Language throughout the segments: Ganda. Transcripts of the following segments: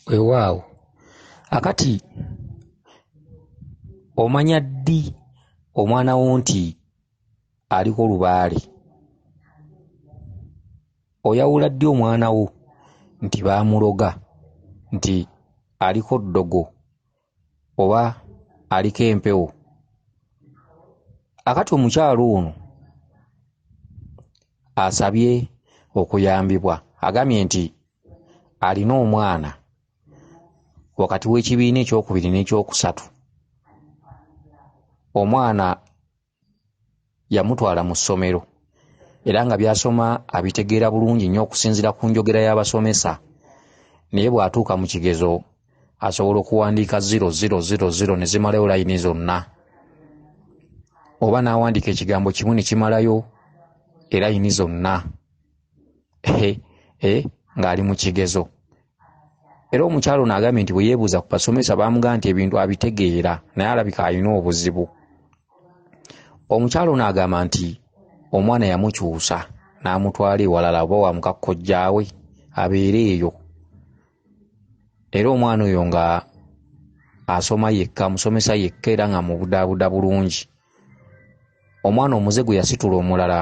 wewaawo akati omanya ddi omwana wo nti aliko lubaale oyawula ddi omwana wo nti baamuloga nti aliko ddogo oba aliko empewo akati omukyalo ono asabye okuyambibwa agambye nti alina omwana wakati w'ekibiina ekyokubiri n'ekyokusatu omwana yamutwala mu ssomero era nga by'asoma abitegeera bulungi nnyo okusinziira ku njogera y'abasomesa naye bw'atuuka mu kigezo asobola okuwandiika ziro ziro ziro ziro ne zimalayo layini zonna oba n'awandiika ekigambo kimu ne kimalayo erayini zonna eh, ng'ali mu kigezo era omukyalo naagambye nti bwe yeebuuza ku basomesa baamuga nti ebintu abitegeera naye alabika alina obuzibu omukyalo naagamba nti omwana yamukyusa n'amutwala ewalala oba wamukakkojjaawe abeere eyo era omwana oyo nga asoma yekka amusomesa yekka era nga mubudaabuda bulungi omwana omuze gwe yasitula omulala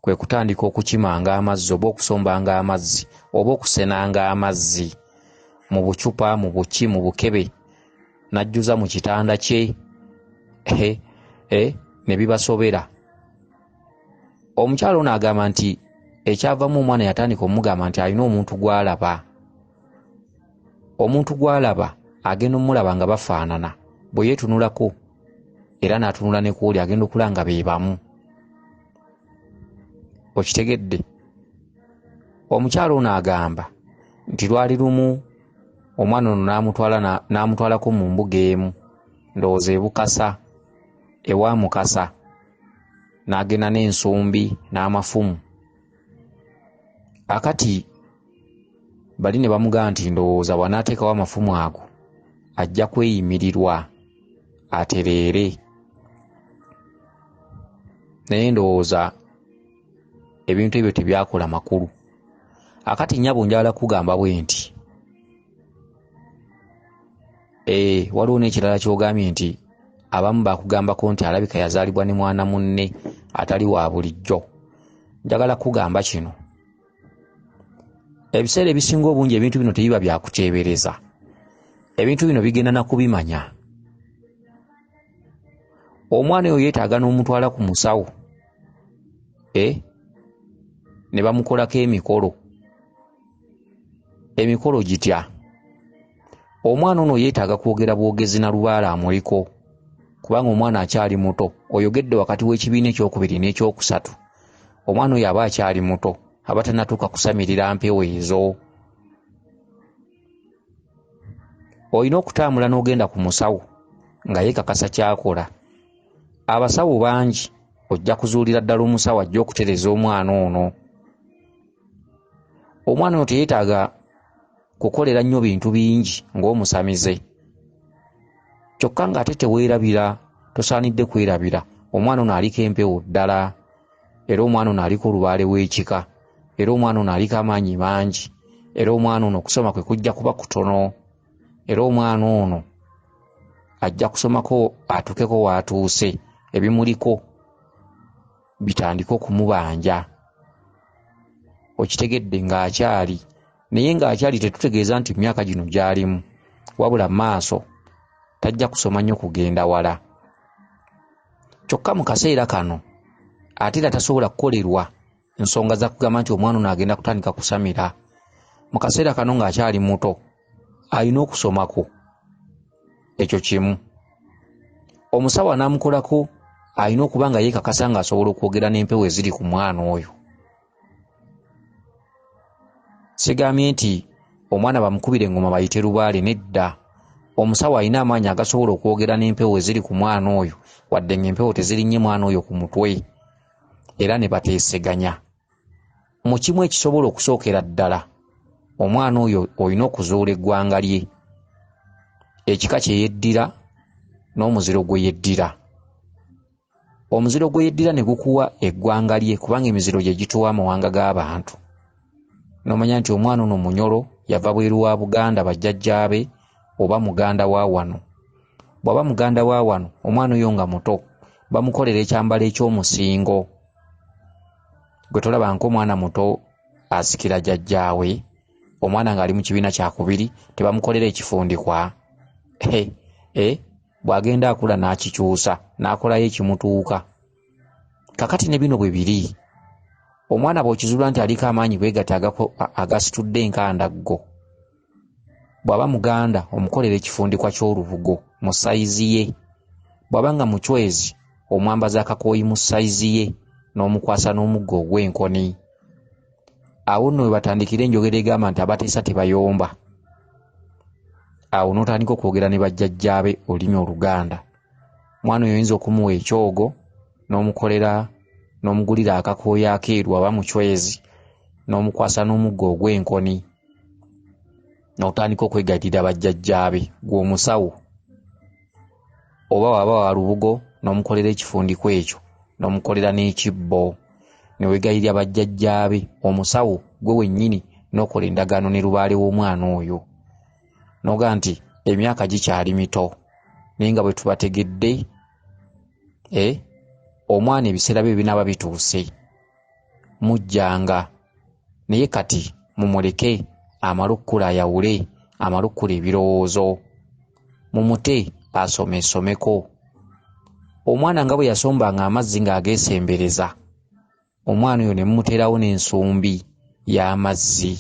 kwe kutandika okukimanga amazzi oba okusombanga amazzi oba okusenanga amazzi mu bucupa mu buki mu bukebe n'ajjuza mu kitanda kye eh, ne bibasobera omukyala ono agamba nti ekyavamu omwana yatandika omugamba nti alina omuntu gwalaba omuntu gwalaba agenda omulaba nga bafaanana bwe yeetunulako era n'atunula ne kuoli agenda okula nga be bamu okitegedde omukyalo ono agamba nti lwali lumu omwana ono n'amutwala n'amutwalako mu mbuga emu ndowooza ebukasa ewa mukasa n'agenda n'ensumbi n'amafumu akati bali ne bamugamba nti ndowooza bw'anaateekawo amafumu ago ajja kweyimirirwa atereere naye ndowooza ebintu ebyo tebyakola makulu akati nyabo njagala kugamba bwe nti Eh, waliwo n'ekirala kyogambye nti abamu bakugambako nti alabika yazaalibwa ne mwana munne atali wa bulijjo njagala kukugamba kino ebiseera ebisinga obungi ebintu bino tebiba byakuteebereza ebintu bino bigenda nakubimanya omwana oyo yeetaaga n'omutwala ku musawo e ne bamukolako emikolo emikolo gitya omwana ono yeetaaga kwogera bwogezi na lubaala amuliko kubanga omwana akyali muto oyogedde wakati w'ekibiina ekyokubiri n'ekyokusatu omwana oyo aba akyali muto aba tanatuuka kusamirira mpewo ezo olina okutambula n'ogenda ku musawo nga yeekakasa kyakola abasawo bangi ojja kuzuulira ddala omusawo ajja okutereza omwana ono omwana ono teyetaaga kukolera nnyo bintu bingi ng'omusamize kyokka ng'ate teweerabira tosaanidde kwerabira omwana ono aliko empewo ddala era omwana ono aliko olubaale w'ekika era omwana ono aliko amaanyi mangi era omwana ono okusoma kwe kujja kuba kutono era omwana ono ajja kusomako atuukeko w'atuuse ebimuliko bitandike okumubanja okitegedde ng'akyali naye ng'akyali tetutegeeza nti myaka gino gyalimu wabula maaso tajja kusoma nnyo kugenda wala kyokka mu kaseera kano ate era tasobola kukolerwa nsonga za kugamba nti omwana ono agenda kutandika kusamira mu kaseera kano ng'akyali muto alina okusomako ekyo kimu omusawo anaamukolako alina okuba nga yeekakasa ng'asobola okwogera n'empewo eziri ku mwana oyo sigambye nti omwana bamukubira engoma bayite lubaale nedda omusawo alina amaanyi agasobola okwogera n'empewo eziri ku mwana oyo wadde ng'empewo tezirinnye mwana oyo ku mutwe era ne bateeseganya mu kimu ekisobola okusookera ddala omwana oyo olina okuzuula eggwanga lye ekika kye yeddira n'omuziro gwe yeddira omuziro gwe yeddira ne gukuwa eggwanga lye kubanga emiziro gye gituwa amawanga g'abantu n'omanya nti omwana ono munyolo yava bweru wa buganda bajjajjaabe oba muganda wa wano bw'aba muganda wa wano omwana oyo nga muto bamukolera ekyambalo eky'omusingo gwe tolaba ngaomwana muto asikira jajjaawe omwana ng'ali mu kibiina kyakubiri tebamukolera ekifundikwa e bw'agenda akula n'akikyusa n'akolayo ekimutuuka kakati ne bino bwe biri omwana bw'okizuula nti aliko amaanyi bwegati agasitudde enkandaggo bw'aba muganda omukolera ekifundikwa ky'olubugo mu sayizi ye bw'aba nga mucwezi omwambaza akakooyi mu sayizi ye n'omukwasa n'omuggo ogw'enkoni awo nno we batandikira enjogera egamba nti abateesa tebayomba awo n'otandika okwogera ne bajjajjaabe olulimi oluganda mwana oyo oyinza okumuwa ekyogo n'omukolera n'omugulira akakooyo akeeru aba mucwezi n'omukwasa n'omuggo ogw'enkoni n'otandika okwegattira bajjajjaabe gw'omusawo oba waba wa lubugo n'omukolera ekifundikwa ekyo n'omukolera n'ekibbo ne wegayirira bajjajjaabe omusawo gwe wennyini n'okola endagaano ne lubaale w'omwana oyo noga nti emyaka gikyali mito naye nga bwetubategedde e omwana ebiseera bye binaaba bituuse mujjanga naye kati mumuleke amale okukula ayawule amale okukula ebirowoozo mumute asomesomeko omwana nga bwe yasombanga amazzi ng'ageesembereza omwana oyo ne mumuteerawo n'ensumbi y'amazzi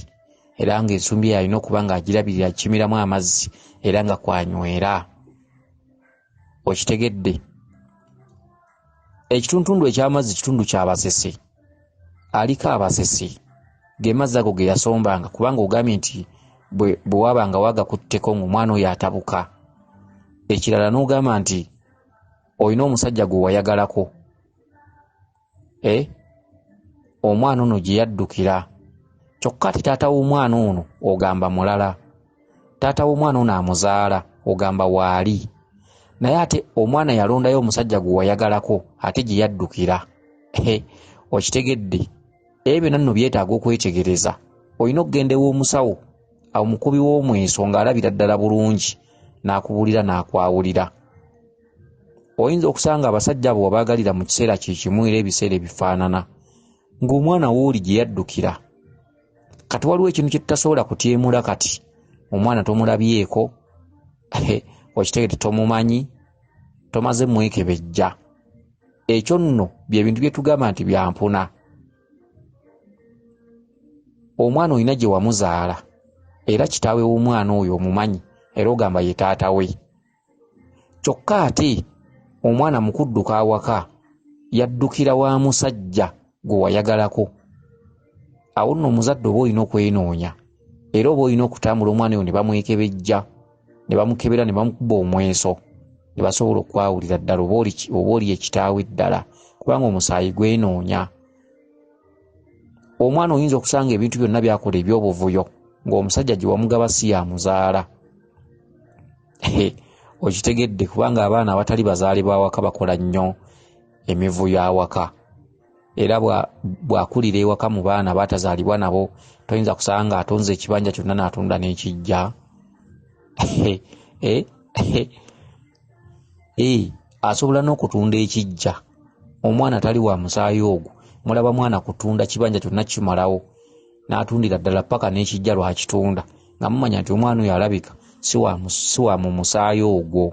era ng'ensumbi eyo alina okuba ng'agirabirira akimiramu amazzi era nga kwanywera okitegedde ekituntundu eky'amazzi kitundu kya basese aliko abasese ge mazzi ago ge yasombanga kubanga ogambye nti bwe wabanga wagakutteko ng'omwana oyo atabuka ekirala n'ogamba nti olina omusajja gwe wayagalako eh, omwana ono gye yaddukira kyokka ati taata w'omwana ono ogamba mulala taata w'omwana ono amuzaala ogamba waali naye ate omwana yalondayo omusajja gwe wayagalako ate gye yaddukira eh, okitegedde ebyo byonna nno byetaaga okwetegereza olina okugenda ew'omusawo omukubi w'omweso ng'alabira ddala bulungi n'akubuulira n'akwawulira oyinza okusanga abasajja abo wabaagalira mu kiseera kye kimu era ebiseera ebifaanana ng'omwana wooli gye yaddukira kati waliwo ekintu kye tutasobola kutyemula kati omwana tomulabyeko okitegete tomumanyi tomaze mwekebejja ekyo nno byebintu bye tugamba nti byampuna omwana olina gye wamuzaala era kitaawe w'omwana oyo omumanyi era ogamba ye taata we kyokka ate omwana mu kudduka awaka yaddukira wa musajja gwe wayagalako awo nno omuzadde oba olina okwenoonya era oba olina okutambula omwana oyo ne bamwekebejja ne bamukebera ne bamukuba omweso ne basobola okwawulira ddala oba oli ekitaawe ddala kubanga omusaayi gwenoonya omwana oyinza okusanga ebintu byonna byakola ebyobuvuyo ng'omusajja gye wamugaba si yamuzaala okitegedde kubanga abaana awatali bazaale bawaka bakola nnyo emivuyo awaka era bwakulira ewaka mu baana batazaalibwa nabo toyinza kusanga nga atonze ekibanja kyonna natunda nekijja eh, eh, asobola n'okutunda ekijja omwana tali wa musaayi ogwo mulaba mwana kutunda kibanja kyonna kimalawo n'atundira ddala ppaka n'ekijja lwakitunda nga mumanya nti omwana oyo alabika si wa mu musaayi ogwo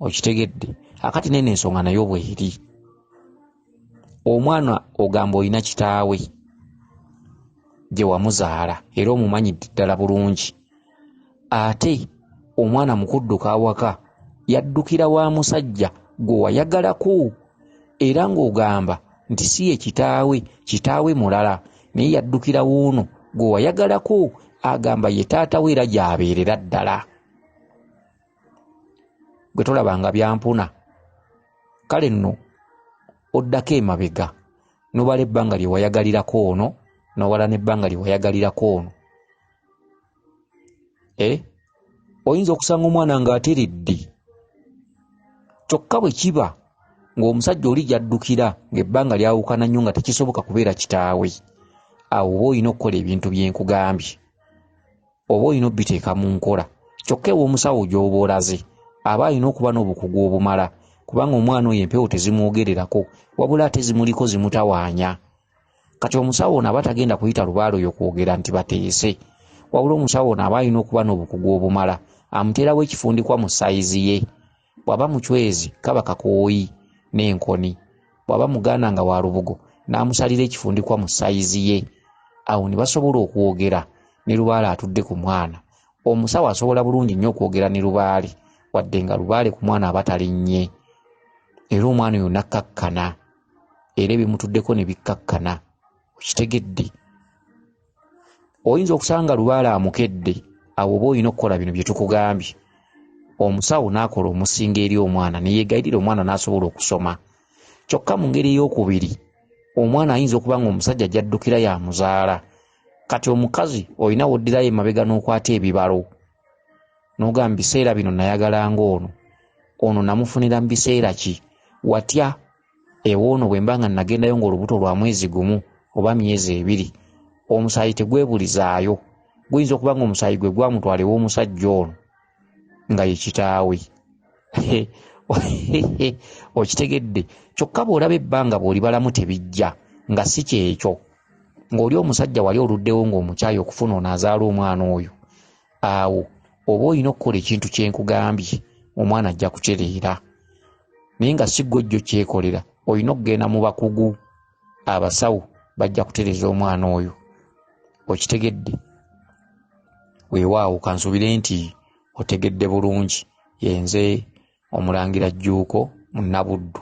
okitegedde akati nene ensonga nayo bweri omwana ogamba olina kitaawe gye wamuzaala era omumanyidde ddala bulungi ate omwana mu kudduka awaka yaddukira wa musajja gwe wayagalako era ng'ogamba nti si ye kitaawe, kitaawe mulala naye yaddukira wuuno gwe wayagalako agamba ye taata we era gy'abeerera ddala. Gwe tolaba nga byampuna? Kale nno oddako emabega n'obala ebbanga lye wayagalirako ono n'obala n'ebbanga lye wayagalirako ono eh? oyinza okusanga omwana ng'ateredde kyokka bwe kiba ng'omusajja oli gyaddukira ng'ebbanga lyawukana nnyo nga tekisoboka kubeera kitaawe awo oba olina okukola ebintu byenkugambye oba olina obiteeka mu nkola kyokka ew'omusawo gy'oba olaze aba alina okuba n'obukugu obumala kubanga omwana oyo empewo tezimwogererako wabula ate zimuliko zimutawaanya kati omusawo ono aba tagenda kuyita lubaale oyo kwogera nti bateese wabula omusawo ono aba alina okuba n'obukugu obumala amuteerawo ekifundikwa mu sayizi ye bw'aba mucwezi kaba kakooyi n'enkoni bw'aba muganda nga wa lubugo n'amusalira ekifundikwa mu sayizi ye awo ne basobola okwogera ne lubaale atudde ku mwana omusawo asobola bulungi nnyo okwogera ne lubaale wadde nga lubaale ku mwana aba talinnye era omwana oyo nakkakkana era ebimutuddeko ne bikkakkana okitegedde oyinza okusanga lubaala amukedde awo oba olina okukola bino bye tukugambye omusawo n'akola omusinga eri omwana ne yeegayirira omwana n'asobola okusoma kyokka mu ngeri ey'okubiri omwana ayinza okuba ng'omusajja gy'addukira yamuzaala kati omukazi olina woddirayo emabega n'okwata ebibalo nogamba biseera bino nayagala ng'ono ono namufunira mu biseera ki watya ewoono bwe mba nga nagendayo ng'olubuto lwa mwezi gumu oba myezi ebiri omusaayi tegwebulizaayo guyinza okuba nga omusaayi gwe gwamutwala ew'omusajja ono nga ye kitaawe okitegedde kyokka bw'olaba ebbanga bw'olibalamu tebijja nga si kyekyo ng'oli omusajja wali oluddewo ng'omukyayi okufuna ono azaala omwana oyo awo oba olina okukola ekintu kye nkugambye omwana ajja kucereera naye nga si ggwojjo kyekolera olina okugenda mu bakugu abasawo bajja kutereza omwana oyo okitegedde weewaawo kansuubire nti otegedde bulungi yenze omulangira jjuuko mu nabuddu.